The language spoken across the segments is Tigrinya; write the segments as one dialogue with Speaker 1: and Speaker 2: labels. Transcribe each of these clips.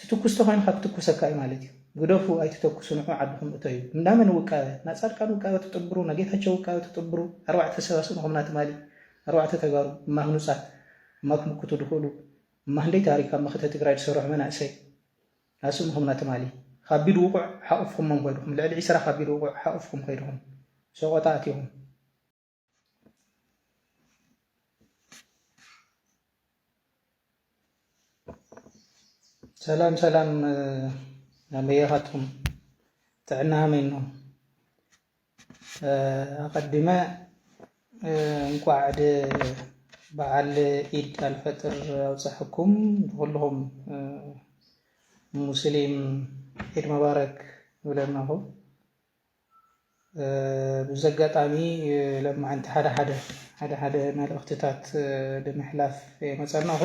Speaker 1: ትትኩስ ተኮይንካ ክትኩሰካ እዩ ማለት እዩ ግደፉ ኣይትተኩሱ ንዑ ዓድኩም እተዩ እንዳ መን ውቃበ ናፃድቃን ውቃበ ትጥብሩ ናጌታቸው ውቃበ ትጥብሩ ኣርባዕተ ሰብ ኣስእንኹምና ትማሊ ኣርባዕተ ተጋሩ እማ ህኑፃት እማ ክምክቱ ድክእሉ እማ ህንደይ ታሪክ ኣብ መክተ ትግራይ ድሰርሑ መናእሰይ ኣስእንኹምና ትማሊ ካቢድ ውቁዕ ሓቁፍኩሞም ኮይድኩም ልዕሊ ዒስራ ካቢድ ውቁዕ ሓቁፍኩም ኮይድኩም ሰቆጣ ኣቲኩም ሰላም ሰላም ኣበየኻትኩም ጥዕና ሀመኝ ነው። ኣቀዲመ እንኳዕ ድ በዓል ኢድ ኣልፈጥር ኣውፀሐኩም ንኩልኹም ሙስሊም ኢድ መባረክ ንብለናኹ በዚ ኣጋጣሚ ለማዓንቲ ሓደ ሓደ ሓደ ሓደ መልእኽትታት ብምሕላፍ የመፀናኹ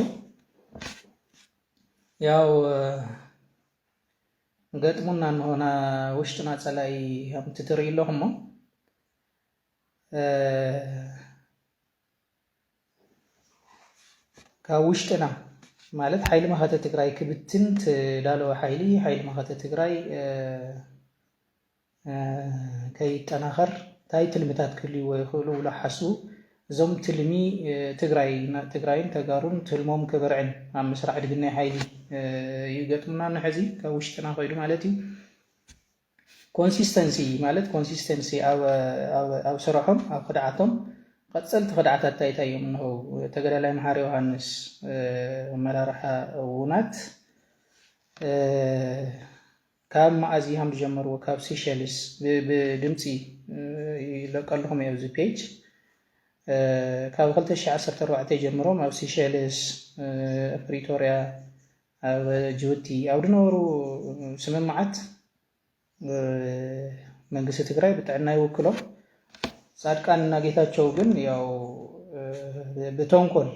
Speaker 1: ያው ገጥሙና እንሆና ውሽጥና ፀላኢ ከምቲ ትርኢ ኣለኹሞ ካብ ውሽጥና ማለት ሓይሊ መኸተ ትግራይ ክብትን ትዳለወ ሓይሊ ሓይሊ መኸተ ትግራይ ከይጠናኸር እንታይ ትልምታት ክህልዎ ይኽእሉ ብሎ ሓስቡ እዞም ትልሚ ትግራይ ትግራይን ተጋሩን ትልሞም ክብርዕን ኣብ ምስራሕ ድግናይ ሓይሊ እዩ ገጥሙና ንሕዚ ካብ ውሽጥና ኮይዱ ማለት እዩ ኮንሲስተንሲ ማለት ኮንሲስተንሲ ኣብ ስረሖም ኣብ ክድዓቶም ቐፀልቲ ክድዓታት እንታይ እንታይ እዮም እንሆ ተገዳላይ መሓሪ ዮሃንስ ኣመራርሓ ውናት ካብ መኣዝ ይሃም ዝጀመርዎ ካብ ሲሸልስ ብድምፂ ይለቀልኹም እየ ኣብዚ ፔጅ ካብ 2014 ጀምሮም ኣብ ሲሸልስ ፕሪቶርያ ኣብ ጅቡቲ ኣብ ድነበሩ ስምምዓት መንግስቲ ትግራይ ብጥዕና ይውክሎም ፃድቃን እና ጌታቸው ግን ያው ብተንኮል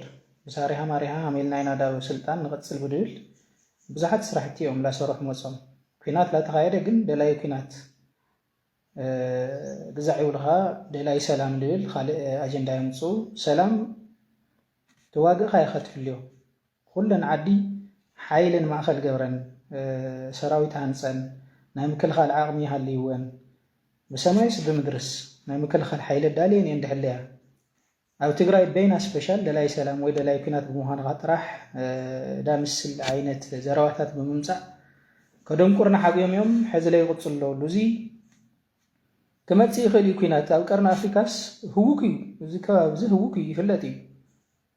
Speaker 1: ብሳሪሃ ማሪሃ ሃሜልና ኢና ዳብ ስልጣን ንቕፅል ብድብል ብዙሓት ስራሕቲ እዮም ላሰሩሕ መፆም ኩናት ላተኻየደ ግን ደላይ ኩናት ግዛዕ ይብልኻ ደላይ ሰላም ልብል ካልእ ኣጀንዳ የምፅኡ ሰላም ተዋግእኻ ኢኻ ትሕልዮ ኹለን ዓዲ ሓይለን ማእኸል ገብረን ሰራዊት ሃንፀን ናይ ምክልኻል ዓቕሚ ሃልይወን ብሰማይስ ብምድርስ ናይ ምክልኻል ሓይሊ ኣዳልየን እየን ድሕለያ። ኣብ ትግራይ በይና ስፔሻል ደላይ ሰላም ወይ ደላይ ኩናት ብምዃንኻ ጥራሕ ዳምስል ዓይነት ዘረባታት ብምምፃእ ከደንቁርና ሓብዮም እዮም ሕዝለይ ቕፅሎ ኣሉ እዙይ ክመፅእ ይኽእል እዩ ኩናት ኣብ ቀርኒ ኣፍሪካስ ህውክ እዩ እዚ ከባቢ እዚ ህውክ እዩ ይፍለጥ እዩ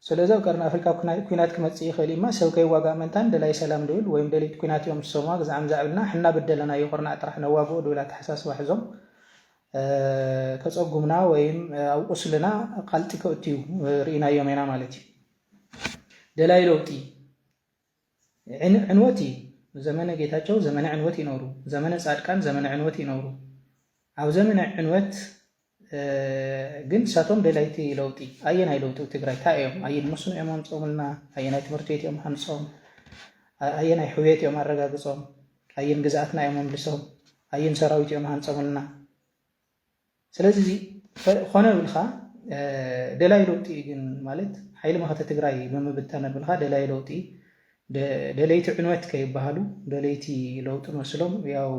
Speaker 1: ስለዚ ኣብ ቀርኒ ኣፍሪቃ ኩናት ክመጽእ ይኽእል እዩ'ማ ሰብ ከይዋጋእ ምእንታን ደላይ ሰላም ድብል ወይም ደለይቲ ኩናት እዮም ዝሰምዋ ግዝዓም ዛዕብልና ሕና ብደለናዮ ኩርናዕ ጥራሕ ነዋግኦ ድብል ኣተሓሳስባ ሕዞም ከጸጉምና ወይም ኣብ ቁስልና ቃልጢ ከእትዩ ርኢናዮም ኢና ማለት እዩ ደላይ ለውጢ ዕን ዕንወት እዪ ዘመነ ጌታቸው ዘመነ ዕንወት እዪ ነሩ ዘመነ ፃድቃን ዘመነ ዕንወት እዪ ነሩ ኣብ ዘመነ ዕንወት ግን ንሳቶም ደላይቲ ለውጢ ኣየናይ ለውጢ ብ ትግራይ ታይ እዮም ኣየን መስኖ እዮም ኣምፆምልና ኣየናይ ትምህርቲ ቤት እዮም ሃንፆም ኣየናይ ሕውየት እዮም ኣረጋግፆም ኣየን ግዝኣትና እዮም ኣምልሶም ኣየን ሰራዊት እዮም ሃንፆምልና ስለዚ እዚ ኾነ ብልካ ደላይ ለውጢ እዩ ግን ማለት ሓይሊ መኸተ ትግራይ ብምብታን ብልካ ደላይ ለውጢ ደለይቲ ዕንወት ከይበሃሉ ደለይቲ ለውጢ መስሎም ያው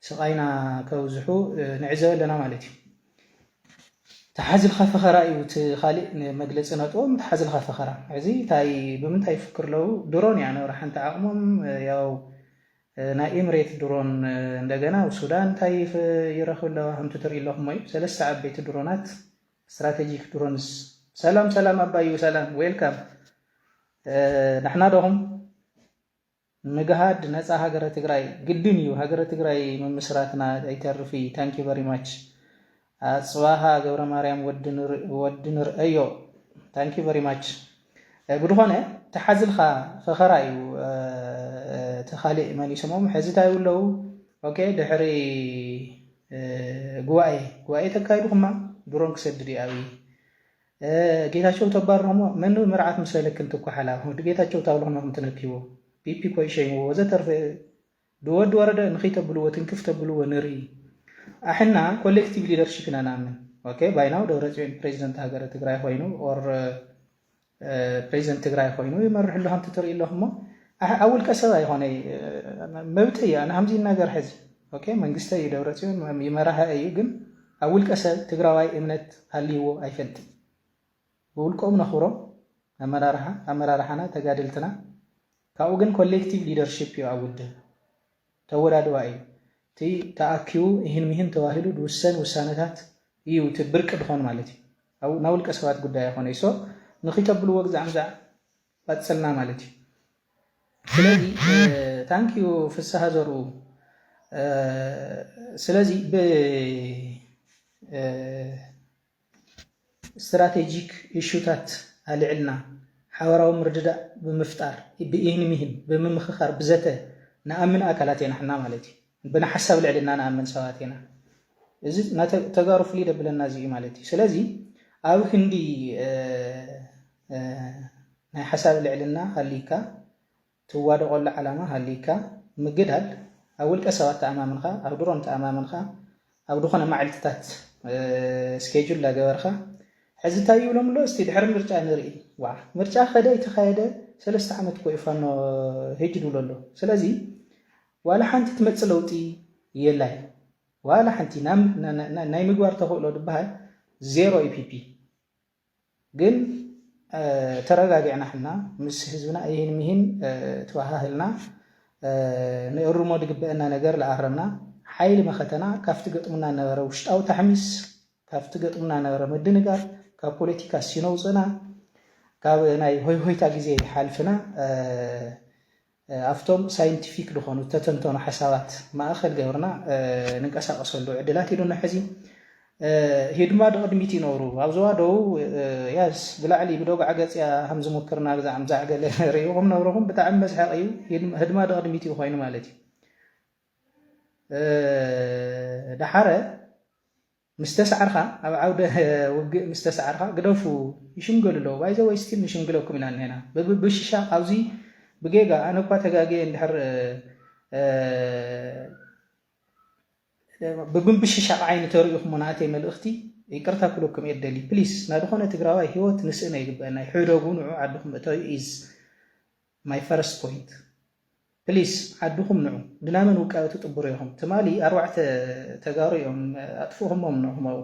Speaker 1: ስቓይና ከብዝሑ ንዕዘብ ኣለና ማለት እዩ። ተሓዝልካ ፈኸራ እዩ እቲ ካሊእ መግለፂ ነጥቦም ተሓዝልካ ፈኸራ እዚ ታይ ብምንታይ ይፍክር ለው ድሮን እያ ነብራ ሓንቲ ዓቕሞም ያው ናይ ኢምሬት ድሮን እንደገና ኣብ ሱዳን እንታይ ይረኽብ ኣለዋ ከምቲ ትሪኡ ኣለኹም እዩ ሰለስተ ዓበይቲ ድሮናት ስትራቴጂክ ድሮንስ ሰላም ሰላም ኣባዩ ሰላም ዌልካም ንሕና ዶኹም ንግሃድ ነፃ ሃገረ ትግራይ ግድን እዩ ሃገረ ትግራይ ምምስራትና ኣይተርፍ እዩ ታንኪ ቨሪ ማች ኣጽባሃ ገብረማርያም ወዲ ንርኣዮ ታንክ ዩ ቨሪ ማች ብድኾነ ተሓዝልካ ፈኸራ እዩ እቲ ካሊእ መን ይስሞም ሕዚ ታይ ውለው ኦኬ ድሕሪ ጉባኤ ጉባኤ ተካይድኹማ ድሮን ክሰድድ እዩ ኣብይ ጌታቸው ተባርኹሞ መን ምርዓት ምስለልክን ትኳሓላ ወዲ ጌታቸው ታብልኹመ ክም ትነኪዎ ፒፒ ኮይ ሸይምዎ ወዘተርፈ ብወዲ ወረደ ንኺተብልዎ ትንክፍ ተብልዎ ንርኢ ኣሕና ኮሌክቲቭ ሊደርሺፕ ኢና ንኣምን ኦኬ ባይ ናው ደብረጽዮን ፕሬዚደንት ሃገረ ትግራይ ኾይኑ ኦር ፕሬዚደንት ትግራይ ኾይኑ ይመርሕ ኣሎ ከምቲ ትርኢ ኣለኹም እሞ ኣብ ውልቀ ሰብ ኣይኾነይ መብተይ እዩ ኣነ ከምዚ ነገር ሕዚ ኦኬ መንግስተ እዩ ደብረጽዮን ይመራሀ እዩ ግን ኣብ ውልቀ ሰብ ትግራዋይ እምነት ሃልይዎ ኣይፈልጥን ብውልቆም ነኽብሮም ኣመራርሓ ኣመራርሓና ተጋደልትና ካብኡ ግን ኮሌክቲቭ ሊደርሺፕ እዩ ኣብ ውድብ። ተወዳድባ እዩ። እቲ ተኣኪቡ እሂን ምሂን ተባሂሉ ድውሰን ውሳነታት እዩ እቲ ብርቂ ድኾን ማለት እዩ። ኣብኡ ናይ ውልቀ ሰባት ጉዳይ ኣይኾነይ። ሶ ንኺተብልዎ ግዛዕምዛዕ ቐጽልና ማለት እዩ። ስለዚ ታንክ ዩ ፍስሃ ዘርኡ ስለዚ ብ ስትራቴጂክ ኢሹታት ኣልዕልና፣ ሓበራዊ ምርድዳእ ብምፍጣር፣ ብኢህንሚህን ብምምኽኻር ብዘተ ንኣምን ኣካላት ኢና ሕና ማለት እዩ። ብናሓሳብ ልዕልና ንኣምን ሰባት ኢና። እዚ ናይ ተጋሩ ፍልይ ደብለና እዚ እዩ ማለት እዩ። ስለዚ ኣብ ክንዲ ናይ ሓሳብ ልዕልና ሃልይካ፣ ትዋደቐሉ ዓላማ ሃልይካ ምግዳል ኣብ ውልቀ ሰባት ተኣማምንኻ ኣብ ድሮን ተኣማምንኻ ኣብ ድኾነ ማዕልትታት ስኬጁል ላገበርኻ ሕዚ እንታይ ይብሎም ኣሎ እስቲ ድሕሪ ምርጫ ንርኢ ዋ ምርጫ ከደ ኣይተኻየደ ሰለስተ ዓመት ኮዩ ፋኖ ህጅ ድብሎ ኣሎ ስለዚ ዋላ ሓንቲ ትመፅእ ለውጢ የላይ ዋላ ሓንቲ ናይ ምግባር ተኽእሎ ድበሃል ዜሮ ኢፒፒ ግን ተረጋጊዕና ሕና ምስ ህዝብና እሂን ምሂን ትባሃህልና ንእርሞ ድግበእና ነገር ልኣረምና ሓይሊ መኸተና ካብቲ ገጥሙና ነበረ ውሽጣዊ ታሕሚስ ካብቲ ገጥሙና ነበረ ምድንጋር ካብ ፖለቲካ ሲኖ ውጽእና ካብ ናይ ሆይሆይታ ግዜ ሓልፍና ኣብቶም ሳይንቲፊክ ዝኾኑ ተተንተኑ ሓሳባት ማእኸል ገብርና ንንቀሳቐሰሉ ዕድላት ኢሉና ሕዚ ሂድማ ድቕድሚት ይነብሩ ኣብ ዞባ ደቡብ ያስ ብላዕሊ ብዶግዓ ገጽያ ከም ዝሙክርና ግዛዕም ዛዕገለ ርኢኹም ነብርኹም ብጣዕሚ መስሐቕ እዩ ህድማ ድቕድሚት እዩ ኮይኑ ማለት እዩ ደሓረ ምስ ተሳዕርካ ኣብ ዓውደ ውግእ ምስ ተሳዕርካ ግደፉ ይሽምገሉ ኣለዉ ባይ ዘ ወይ ስቲል ንሽምግለኩም ኢና እንሄና ብብሽሻ ኣብዚ ብጌጋ ኣነ እኳ ተጋግየ እንድሕር ብብሽሻቅ ዓይኒ ተርእኹሙና ኣቴ መልእኽቲ ይቅርታ ክብለኩም እየ ደሊ ፕሊስ ናድኾነ ትግራዋይ ሂወት ንስእነ ይግበአና እዩ ሕደጉ ንዑ ዓድኹም እተዩ ኢዝ ማይ ፈረስት ፖይንት ፕሊስ ዓድኹም ንዑ ግና መን ውቃበ ትጥብሩ ኢኹም ትማሊ ኣርባዕተ ተጋሩ እዮም ኣጥፍእኹሞም ንዕኹም ኣብኡ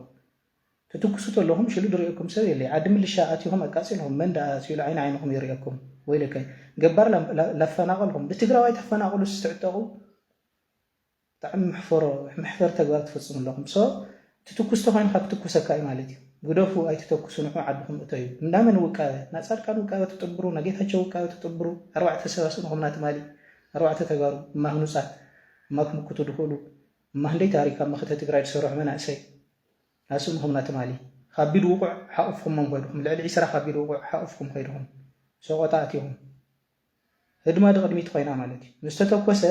Speaker 1: ትትኩሱ ተለኹም ሽሉ ድሪኤኩም ሰብ የለይ ዓዲ ምልሻ ኣቲኹም ኣቃጺልኹም መን ደኣ ኣትዩሉ ዓይኒ ዓይንኹም ይሪኤኩም ወይለከ ገባር ላፈናቐልኹም ብትግራዋይ ተፈናቕሉስ ትዕጠቑ ብጣዕሚ መሕፈሮ መሕፈር ተግባር ትፍጽሙ ኣለኹም so እቲ ትኩስ ተኾይንካ ክትኩሰካ እዩ ማለት እዩ ግደፉ ኣይትተኩሱ ንዑ ዓድኹም እተዩ እንዳ መን ውቃበ ናጻድቃን ውቃበ ትጥብሩ ናጌታቸው ውቃበ ትጥብሩ ኣርባዕተ ሰብ ኣስእንኹምና ትማሊ ኣርባዕተ ተጋሩ እማ ህኑጻት እማ ክምክቱ ድኽእሉ እማ ህንደይ ታሪክ ኣብ መኸተ ትግራይ ድሰርሑ መናእሰይ ኣስእንኹምና ትማሊ ኻቢድ ውቁዕ ሓቁፍኹሞም ኾይድኹም ልዕሊ ዒስራ ኻቢድ ውቁዕ ሓቁፍኩም ኸይድኹም ሰቆጣ ኣቲኹም ህድማ ድቅድሚት ኮይና ማለት እዩ ምስ ተተኮሰ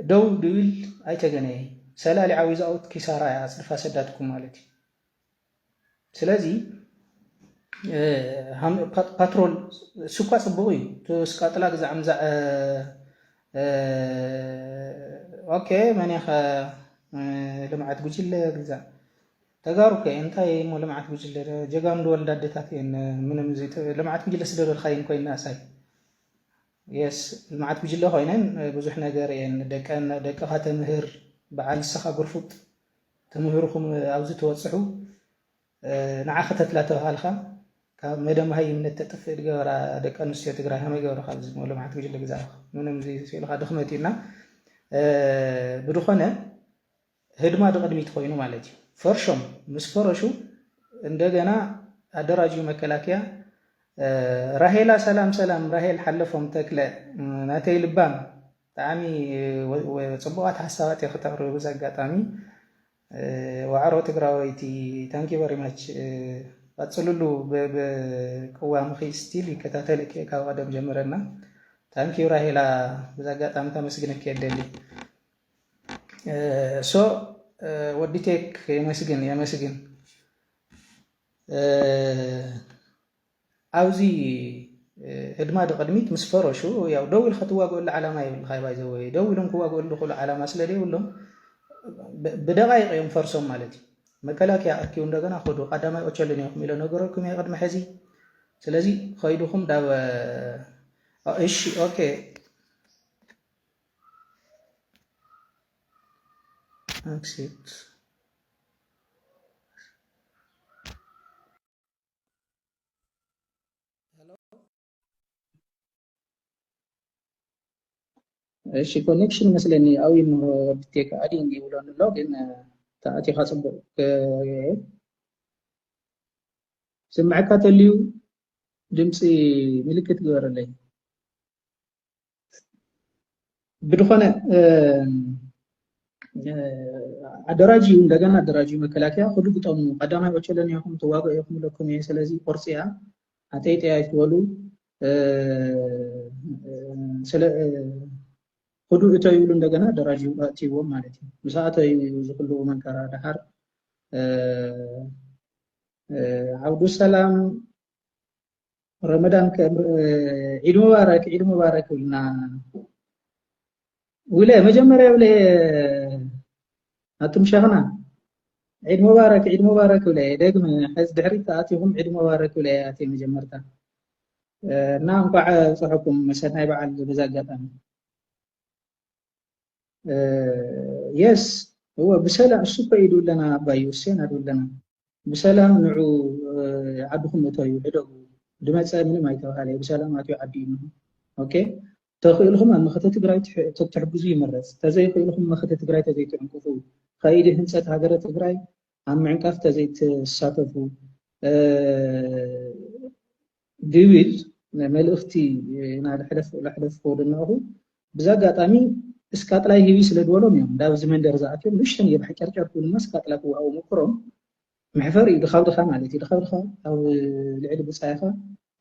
Speaker 1: ደው ድብል ኣይተገነየ ሰላሊዓ ዊዛውት ኪሳራ እያ ኣጽድፋ ሰዳትኩም ማለት እዩ ስለዚ ፓትሮል ስኳ ጽቡቅ እዩ ትስቃጥላ ግዛዕ ምዛዕ ኦኬ መን ኢኻ ልምዓት ጉጅለ ግዛዕ ተጋሩ እኮ እየን እንታይ እሞ ልምዓት ጉጅለ ዶ ጀጋኑ ድወልዳ ኣዴታት እየን ምንም ዘይተ ልምዓት ጉጅለ ስደበልካየን ኮይነን ኣሳይ የስ ልምዓት ጉጅለ ኮይነን ብዙሕ ነገር እየን ደቀን ደቅኻ ተምህር በዓል ንስኻ ጉርፉጥ ተምህርኹም ኣብዚ ተወፅሑ ንዓ ከተትላ ተባሃልካ ካብ መደ መሃይምነት ተጥፍእ ድገበራ ደቂ ኣንስትዮ ትግራይ ከመይ ገብረ ካብ ዝሞ ልምዓት ጉጅለ ግዛእኻ ምንም ዘይስኢልካ ድኽመት እዩና ብድኾነ ህድማ ድቅድሚት ኮይኑ ማለት እዩ ፈርሾም ምስ ፈረሹ እንደገና ኣደራጅዩ መከላከያ ራሄላ ሰላም ሰላም ራሄል ሓለፎም ተክለ ናተይ ልባም ብጣዕሚ ጽቡቃት ሓሳባት እየ ክተቅርቢ ብዚ ኣጋጣሚ ዋዕሮ ትግራወይቲ ታንክ ዩ ቨሪ ማች ቀጽልሉ ብቅዋምኺ ስቲል ይከታተልክ እየ ካብ ቀደም ጀምረና ታንክ ዩ ራሄላ ብዚ ኣጋጣሚ ከመስግነኪ እየ ደሊ ሶ ወዲ ቴክ የመስግን የመስግን ኣብዚ ህድማ ድቅድሚት ምስ ፈረሹ ያው ደው ኢልካ ትዋግኦሉ ዓላማ የብልካ ባይ ዘወይ ደው ኢሎም ክዋግኦሉ ዝኽእሉ ዓላማ ስለ ዘይብሎም ብደቃይቅ እዮም ፈርሶም ማለት እዩ መከላከያ ኣኪቡ እንደገና ከዱ ቀዳማይ ኦቸልን ኢኹም ኢሎ ነገረኩም እየ ቅድሚ ሕዚ ስለዚ ከይድኹም ዳብ እሺ ኦኬ Accept. እሺ ኮኔክሽን መስለኒ ኣብ ይምሮ ብቴክ ኣዲን ይብሎን ኣሎ ግን ተኣቲኻ ፅቡቅ ስምዐካ ተልዩ ድምፂ ምልክት ግበረለይ ብድኾነ ኣደራጅዩ እንደገና ኣደራጅዩ መከላከያ ክዱ ግጠሙ ቀዳማይ ኦቸለን ኢኹም ተዋግኦ ኢኹም ለኩም እየ ስለዚ ቁርፂ እያ ኣጠይጠያ ይትበሉ ክዱ እተ ይብሉ እንደገና ኣደራጅዩ ኣእትይዎም ማለት እዩ ምስ ኣተዩ ዝክሉ መንከራ ድሓር ዓብዱ ሰላም ረመዳን ዒድ ሙባረክ ዒድ ሙባረክ ይብልና ውለ መጀመርያ ውለ ኣቱም ሸኽና ዒድ ሙባረክ ዒድ ሙባረክ ውለ ደግመ ሕዚ ድሕሪት ኣትኹም ዒድ ሙባረክ ውለ ኣትየ መጀመርታ እና እንኳዕ ብፅሐኩም ሰናይ በዓል በዚ ኣጋጣሚ የስ እወ ብሰላም እሱ እኮ ኢዱ ኣለና ኣባይ ውሴን ኣዱ ኣለና ብሰላም ንዑ ዓድኹም እተዩ ዕደጉ ድመፀ ምንም ኣይተባሃለ ብሰላም ኣትዩ ዓዲ እዩ ኦኬ ተኽእልኹም ኣብ መኸተ ትግራይ ተትሕግዙ ይመረፅ ተዘይኽእልኹም መኸተ ትግራይ ተዘይትዕንቅፉ ከይዲ ህንፀት ሃገረ ትግራይ ኣብ ምዕንቃፍ ተዘይትሳተፉ ቢቢል መልእኽቲ ናድ ሕለፍ ለሕለፍ ከወደናኹ ብዛጋጣሚ እስካጥላይ ሂቢ ስለ ድበሎም እዮም ዳብ እዚ መንደር ዝኣትዮም ንእሽተን እየ ብሓጨርጨር ክብሉና እስካጥላ ክወሃቡ ሞክሮም መሕፈር እዩ ድኻብ ድኻ ማለት እዩ ድኻብ ድኻ ኣብ ልዕሊ ብፃይኻ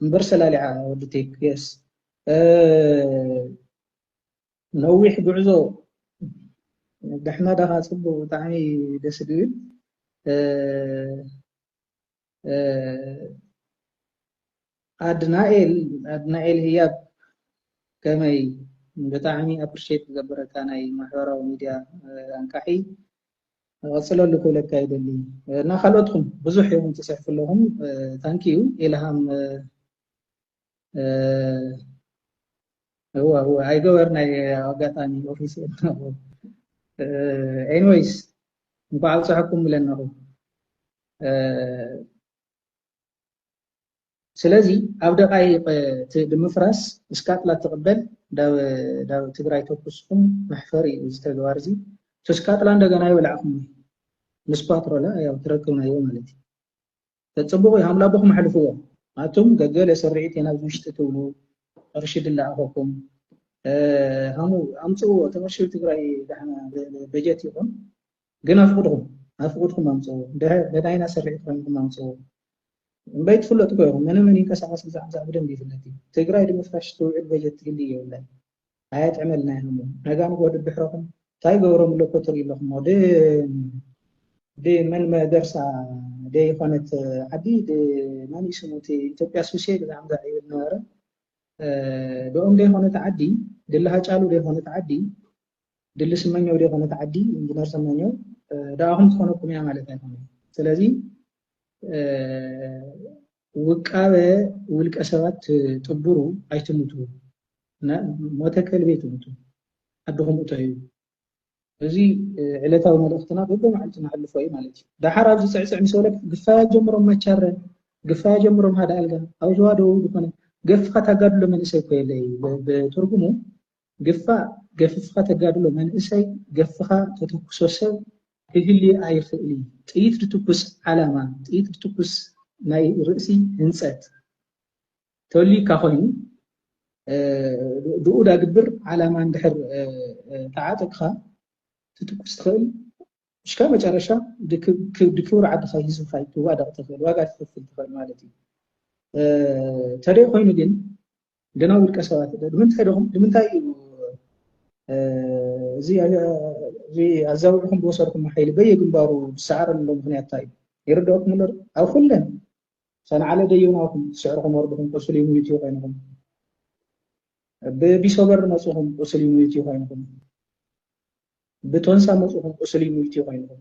Speaker 1: እምበር ሰላሊዓ ወዲ ቴክ የስ ነዊሕ ጉዕዞ ደሕና ዳኻ ፅቡቅ ብጣዕሚ ደስ ድብል ኣድናኤል ኣድናኤል ህያብ ከመይ ብጣዕሚ ኣፕሪሼት ዝገብረካ ናይ ማሕበራዊ ሚድያ ኣንቃሒ ቀፅለሉ ክብለካ ይደሊ እና ካልኦትኩም ብዙሕ እዮም ትፅሕፉ ኣለኹም ታንኪዩ ኢልሃም እወ እወ ኣይገበር ናይ ኣጋጣሚ ኦፊስ ኣለኹ ኤኒዌይስ እንኳዕ ኣብፅሐኩም ብለናኹ ስለዚ ኣብ ደቃይቅ እቲ ብምፍራስ እስካጥላ ትቕበል ዳብ ትግራይ ተኩስኩም መሕፈሪ እዩ እዚ ተግባር እዚ ተስካጥላ እንደገና ይበላዕኩም ምስ ፓትሮላ ያው ትረክብናዮ ማለት እዩ ተጽብቑ ኢኹም ላቦኹም ኣሕልፍዎ ኣቱም ገገለ ስርዒት ኢና ኣብዚ ውሽጢ ትብሉ ቅርሺ ድላኣኸኩም ሃሙ ኣምጽእዎ እቲ ቅርሺ ትግራይ ዳሕና በጀት ይኹን ግን ኣፍቅድኹም ኣፍቅድኩም ኣምጽእዎ ደዳይና ስርዒት ኮይንኩም ኣምጽእዎ እምበይ ትፍለጡ ኮይኹም መነ መን ይንቀሳቐስ ብዛዕባ ብደንብ ይፍለጥ እዩ ትግራይ ንምፍራሽ ትውዕል በጀት ትህሊ የብላን ኣየጥዕመልናይ እሞ ነጋ ንግሆ ድድሕረኹም ታይ ገብሮም ኣሎ እኮ ትሪኡ ኣለኹሞ ድ ድ መን መገርሳ ደ ይኾነት ዓዲ ድ መን እዩ ስሙ እቲ ኢትዮጵያ ሱሴ ብዛዕምዛ ይብል ነበረ ደኦም ደ ይኾነት ዓዲ ድሊ ሃጫሉ ደ ይኾነት ዓዲ ድሊ ስመኘው ደ ይኾነት ዓዲ ኢንጂነር ስመኘው ደኣኹም ትኾነኩም እያ ማለት ኣይኮነ ስለዚ ውቃበ ውልቀ ሰባት ጥቡሩ ኣይትሙቱ ሞተ ከልቢ ኣይትሙቱ ዓድኹም እተዩ። እዚ ዕለታዊ መልእኽትና በብመዓልቱ ነሕልፎ እዩ ማለት እዩ። ደሓር ኣብዚ ፅዕፅዕ ምስ በለካ ግፋይ ኣጀምሮም ማቻረ፣ ግፋይ ኣጀምሮም ሃደ ኣልጋ፣ ኣብ ዞባ ደቡብ ዝኾነ ገፍኻ ታጋድሎ መንእሰይ እኮ የለ እዩ ብትርጉሙ ግፋ ገፍፍካ ተጋድሎ መንእሰይ ገፍካ ተተኩሶ ሰብ ክህሊ ኣይክእሊ ጥይት ድትኩስ ዓላማ ጥይት ድትኩስ ናይ ርእሲ ህንጸት ተልዩካ ኮይኑ ብኡ ዳግብር ዓላማ እንድሕር ተዓጥቅካ ትትኩስ ትኽእል እስከ መጨረሻ ድክብር ዓድኻ ህዝብካ ትዋደቕ ትኽእል ዋጋ ትኽፍል ትኽእል ማለት እዩ ተደይ ኮይኑ ግን ገና ውልቀ ሰባት ንምንታይ ደኹም ንምንታይ እዩ እዚ ኣዛውርኹም ብወሰድኩም ሓይሊ በየግንባሩ ዝሰዓረሉ ምክንያት እንታይ እዩ ይርድኦኩም ኣሎ ኣብ ኩለን ሰንዓለ ደዮናኹም ስዕርኹም ወርድኹም ቁስል ይሙይት እዩ ኮይንኹም ብቢሶበር መፅኹም ቁስል ይሙይት እዩ ኮይንኹም ብቶንሳ መፅኹም ቁስል ይሙይት እዩ ኮይንኹም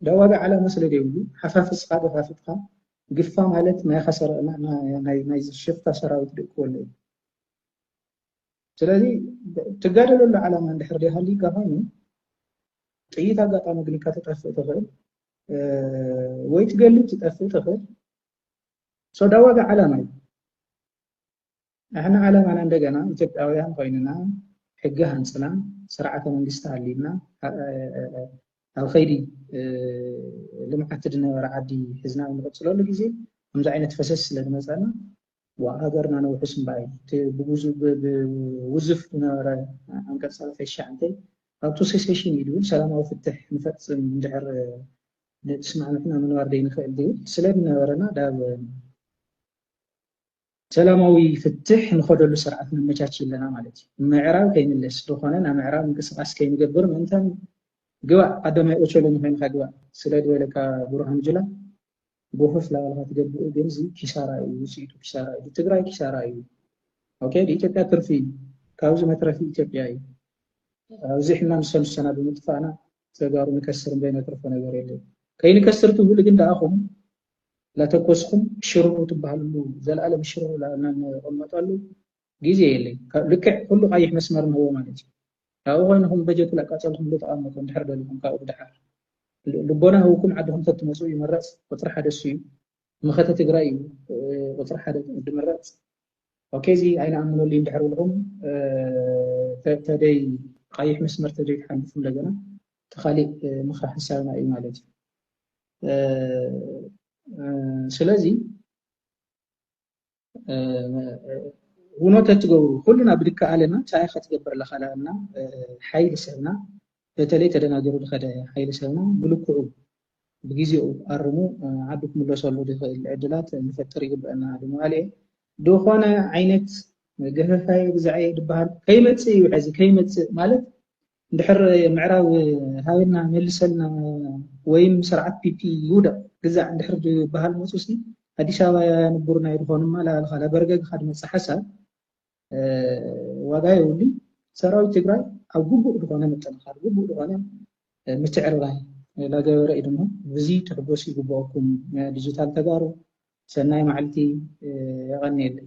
Speaker 1: እንዳ ዋጋ ዓላማ ስለ ዘይብሉ ሓፋፍስካ ደፋፊጥካ ግፋ ማለት ናይ ኸሰረ ናይ ናይ ሽፍታ ሰራዊት ደቂ ወለይ ስለዚ ትጋደለሉ ዓላማ እንድሕር ደይሃልዩካ ኮይኑ ጥይት ኣጋጣሚ ግኒካ ተጠፍእ ትኽእል ወይ ትገልብ ትጠፍእ ትኽእል ሶዳ ዋጋ ዓላማ እዩ ንሕና ዓላማና እንደገና ኢትዮጵያውያን ኮይንና ሕጊ ሃንፅና ስርዓተ መንግስቲ ሃልዩና ኣብ ከይዲ ልምዓት ዝነበረ ዓዲ ሕዝና ንቕፅለሉ ግዜ ከምዚ ዓይነት ፈሰስ ስለ ዝመፀና ሃገርና ነውሕስ እምበኣይ ብውዝፍ ዝነበረ ዓንቀፅ ሰላሳ ትሽዓተ ኣብቱ ሴሴሽን እዩ ዝብል ሰላማዊ ፍትሕ ንፈፅም እንድሕር ንስማዕምዕና ምንባር ዘይንኽእል ዝብል ስለ ዝነበረና ዳብ ሰላማዊ ፍትሕ ንኸደሉ ስርዓት ነመቻቺ ኣለና ማለት እዩ። ምዕራብ ከይምለስ ዝኾነ ናብ ምዕራብ ምንቅስቃስ ከይንገብር ምእንታን ግባእ ቀዳማይ ኦቸሎኒ ኮይንካ ግባእ ስለ ዝበለካ ብርሃኑ ጅላ ጎፈፍ ላባልካ ትገብእ ግን እዚ ኪሳራ እዩ ውፅኢቱ ኪሳራ እዩ ትግራይ ኪሳራ እዩ ኦኬ ኢትዮጵያ ትርፊ እዩ ካብዚ መትረፊ ኢትዮጵያ እዩ ኣብዚ ሕማም ሰልሰና ብምጥፋእና ተጋሩ ንከስር እምበይ ነትርፎ ነገር የለን ከይንከስር ትብሉ ግን ደኣኹም ላተኮስኩም ሽርሩ ትባሃልሉ ዘላለም ሽርሩ ላእልና ንቅመጠሉ ግዜ የለይ ልክዕ ኩሉ ቃይሕ መስመር ንህቦ ማለት እዩ ካብኡ ኮይንኹም በጀት ላቃጸልኩምሉ ተቃመጡ እንድሕር ደልኹም ካብኡ ብድሓር ልቦና ህውኩም ዓድኹም ተትመጹ ይምረጽ ቁጽሪ ሓደ እሱ እዩ መኸተ ትግራይ እዩ ቁጽሪ ሓደ ድምረጽ ኦኬ እዚ ኣይንኣምነሉ እንድሕር ብልኹም ተደይ ቃይሕ መስመር ተደይ ትሓልፉ እንደገና ተኻሊእ ምኽራ ሓሳብና እዩ ማለት እዩ ስለዚ ውኖ ተትገብሩ ኩልና ብድከኣለና ታይ ከትገብር ኣለካ ዳኣልና ሓይሊ ሰብና በተለይ ተደናገሩ ዝኸደ ሓይሊ ሰብና ብልክዑ ብግዜኡ ኣርሙ ዓዱ ክምለሰሉ ዝኽእል ዕድላት ንፈጥር ይግበአና ድማለ ዝኾነ ዓይነት ገፈፋይ ብዛዕየ ዝበሃል ከይመፅእ እዩ ሕዚ ከይመፅእ ማለት እንድሕር ምዕራብ ሃበና መልሰልና ወይም ስርዓት ፒፒ ይውደቕ ግዛዕ እንድሕር ዝበሃል መጹሲ ኣዲስ ኣበባ ያንቡር ናይ ዝኾኑ ማላልኻ ለበርገግኻ ድመጽእ ሓሳብ ዋጋ የብሉን። ሰራዊት ትግራይ ኣብ ግቡእ ዝኾነ ምጥንኻር ግቡእ ዝኾነ ምትዕርራይ ላገበረ እዩ ድማ ብዚ ትሕጎሱ ይግብኦኩም ዲጂታል ተጋሩ ሰናይ ማዕልቲ የቐንየለይ።